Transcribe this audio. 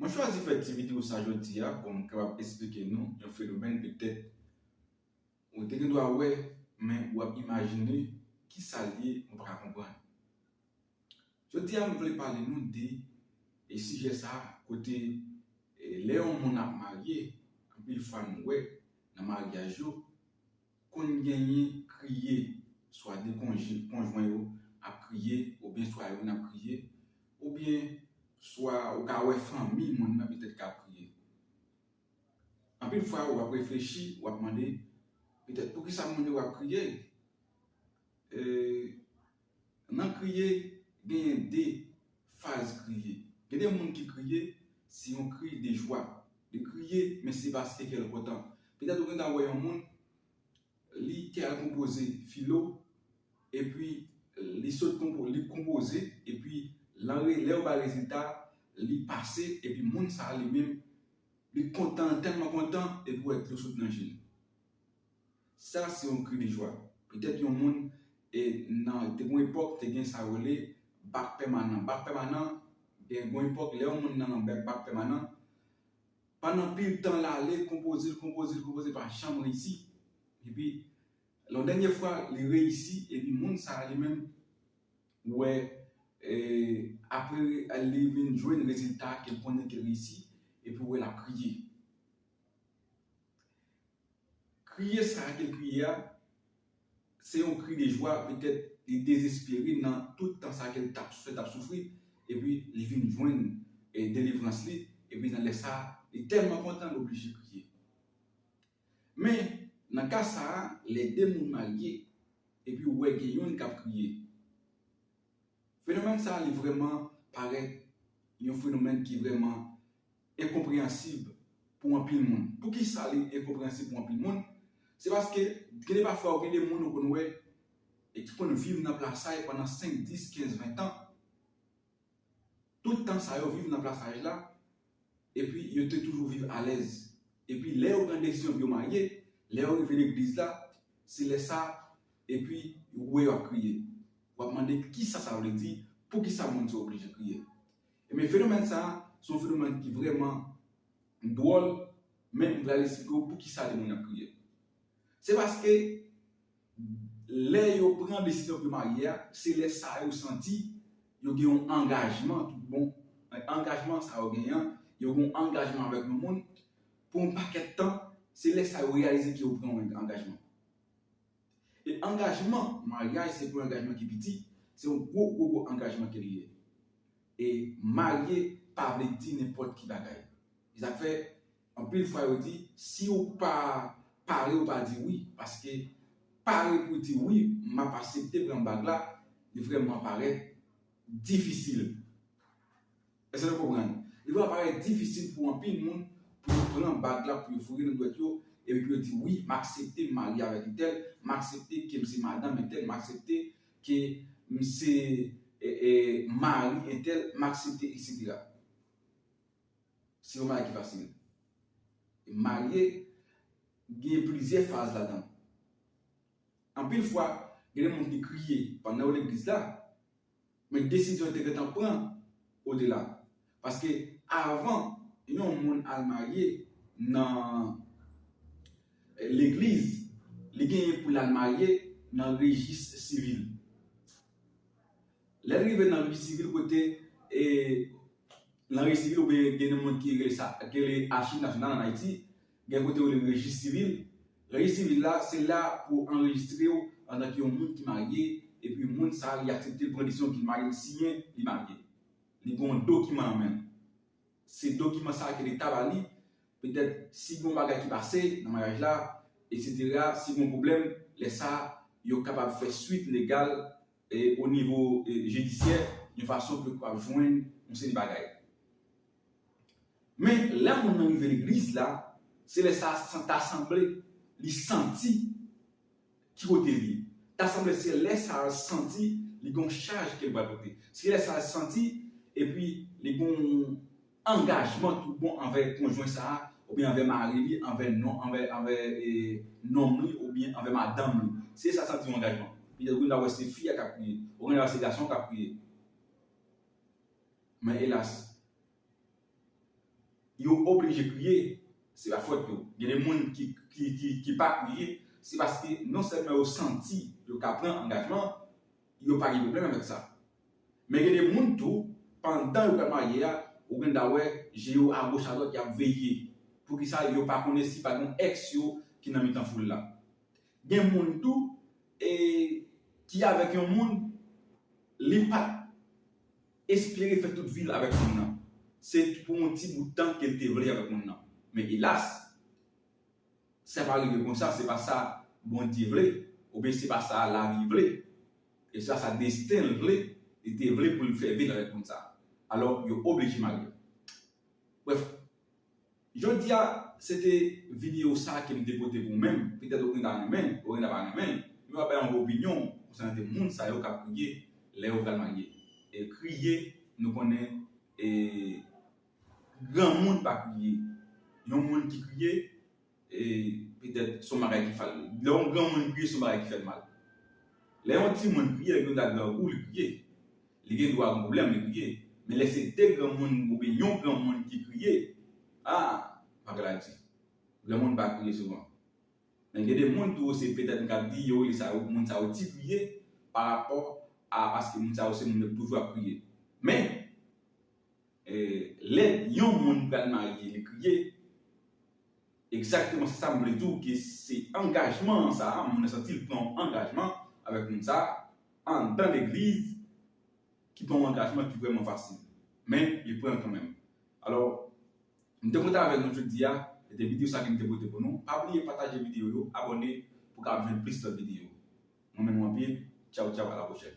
Mwen chwazi fè ti video sa jodi a pou m kapab esplike nou yon fenomèn petèt ou te gen dwa wè men ou ap imajine ki sa l ye ou pa ka konprann. Jodi a m vle pale nou de e sijè sa kote lè yon moun ap marye anpil fwa nou wè nan maryaj yo Konn genyen kriye, swa de konjin, konjwen yo ap kriye, oubyen swa youn ap kriye, oubyen swa ou ka wè fanmi moun nan petèt kap kriye. Anpil fwa ou ap reflechi, ou ap mande, petèt poukisa moun yo ap kriye? E. Nan kriye, genyen de faz kriye. Gen de moun ki kriye, se yon kri de jwa. Li kriye, men se paske kè l kontan. Petèt ou gen tan wè yon moun, li te al konpoze filo, epi li sot konpo, li konpoze, epi lan re, lè yo ba l rezilta, li pase, epi moun sa a li menm, li kontan, l tèlman kontan, epi ou wè dlo sot nan je l. Sa se yon kri de jwa. Petèt yon moun e nan te gen yon epòk te gen sa yo rele bak pèmanan. Bak pèmanan gen yon epòk lè yon moun nan bèk bak pèmanan pandan anpil tan l ale konpoze l konpoze l konpoze l pa janm reyisi. Epi lè yon dènye fwa li reyisi epi moun sa li menm wè e apre li vin jwenn rezilta ke l konnen ke l reyisi epi wè l ap kriye. Kriye sa a te kriye a, se yon kri de jwa, petèt li dezespere nan tout tan sa ke l t ap soufri, l t ap soufri, epi li vin jwenn delivrans li, epi nan lè sa a, li tèlman kontan li oblije kriye. Men, nan ka sa a, lè de moun marye, epi ou wè gen youn k ap kriye, Fenomèn sa li vrèman parèt yon fenomèn ki vrèman enkonpreyansib pou anpil moun. Poukisa li enkonpreyansib pou anpil moun? Se paske gen de pafwa ou gen de moun ou konn wè e ki konn viv nan plasay pandan 5, 10, 15, 20 tan. Tout tan sa yo viv nan plasaj la, epi yo te toujou viv alèz. Epi lè yo pran desizyon pou yo marye, lè yo rive legliz la, se lè sa epi ou wè yo ap kriye. W ap mande kisa sa vle di, poukisa moun sa yo oblije kriye. Ebyen fenomèn sa a, se yon fenomèn ki vrèman dwòl, men m pral esplike w poukisa de moun ap kriye. Se paske Lè yo pran desizyon pou yo marye a, se lè sa yo santi yo gen yon angajman tout bon. Nan angajman sa yo genyen an, yo gen yon angajman avèk yon moun pou yon pakèt tan, se lè sa yo reyalize ke yo pran yon angajman. E angajman maryaj se pou yon angajman ki piti, se yon gwo gwo gwo angajman ke li ye. E marye pa vle di nenpòt ki bagay. Se sa k fè Anpil fwa yo di siw pa pare ou pa di wi paske pare pou di wi map asepte pran bag la li vrèman parèt difisil eske nou konprann li vrèman parèt difisil pou anpil moun pou yo pran bag la pou yo foure nan dwèt yo epi pou yo di wi m aksepte m marye avèk entèl m aksepte kem se madanm entèl m aksepte ke m se mari entèl m aksepte etc. Se yon bagay ki fasil. Marye gen plizyè faz ladan l. Anpil fwa, gen de moun ki kriye pandan yo legliz la, men desizyon yo te gentan pran odela. Paske avan yon moun al marye nan legliz, li genyen pou l al marye nan rejis sivil. Lè l rive nan vi sivil kote e nan rejis sivil ou byen gen yon moun ki rele sa ki rele achiv nasyonal an Ayiti, gen kote yo rele rejis sivil. Rejis sivil la se la pou yo anrejistre w antan ke yon moun ki marye epi moun sa li aksepte pran desizyon ki marye li siyen li marye. Li gen yon dokiman nan men l. Se dokiman sa ke leta ba li petèt si gen yon bagay ki pase nan maryaj la eksetera, si gen yon pwoblèm lè sa yo kapab fè swit legal o nivo jidisyè yon fason pou yo kapab jwenn yon seri bagay. Men, lè moun nan rive legliz la, se lè sa a ta sanble li santi ki kote li ye. Ta sanble se lè sa a l santi li gen yon chaj ke l pral pote. Se lè sa a l santi epi li gen yon. angajman tout bon anvè konjwen sa a oubyen anvè mari li, anvè non, anvè, anvè e nonm li oubyen anvè madanm li. Se sa sa di yon angajman. Petèt ou gen dwa wè se fi a k ap kriye. Ou gen dwa wè se gason an k ap kriye. Men elas! Yo oblije kriye, se pa fòt yo. Gen de moun ki, ki, ki, ki pa kriye, se paske non sèlman yo santi yo ka pran angajman, yo pa gen pwoblèm avèk sa. Men gen de moun tou, pandan yo pral marye a, ou gen dwa wè je yo agoch adwat y ap veye poukisa yo pa konnen si pa gen yon èks yo ki nan mitan foul la. Gen moun tou e ki avèk yon moun li pa t espere fè tout vi l avèk moun nan, se pou yon ti bout tan ke l te vle avèk moun nan. Men elas! Sa pa rive konsa, se pa sa Bondye vle, oubyen se pa sa lavi vle. E se pa sa desten l vle, li te vle pou l fè vil avèk moun sa a. Alò, yo oblije marye l. Brèf, jodi a, se te videyo sa a ke m te pote pou ou menm. Petèt ou gen ta renmen l, ou gen ta pa renmen l, men w ap bay yon opinyon w konsènan de moun sa yo k ap kriye lè yo pral marye. E kriye, nou konnen e. Granmoun pa kriye. Yon moun ki kriye, e petèt son bagay ki fal. Lè yon granmoun kriye son bagay ki fèl mal. Lè yon timoun kriye, lè gen yon nèg grangou li kriye. Li gen dwa gen pwoblèm li kriye. Men lè se 2 granmoun oubyen yon granmoun ki kriye, ah bagay la di. Granmoun pa kriye souvan. Men gen de moun tou se petèt m kab di yo rele sa yo moun sa yo ti kriye parapò a paske moun sa yo se moun yo k toujou ap kriye. Men! Lè Yon moun pral marye li kriye Exactement se sa m vle di w ke se angajman an sa a moun nan santi l pran yon angajman avèk moun sa a anndan legliz ki pa yon angajman ki vrèman fasil men li pran l kanmenm alò m te kontan avèk nou jodi a se te videyo sa ke m te pote pou nou pa bliye pataje videyo yo abòne pou w ka ap jwenn plis lòt videyo mwen renmen nou anpil tchaw tchaw a la pwochèn.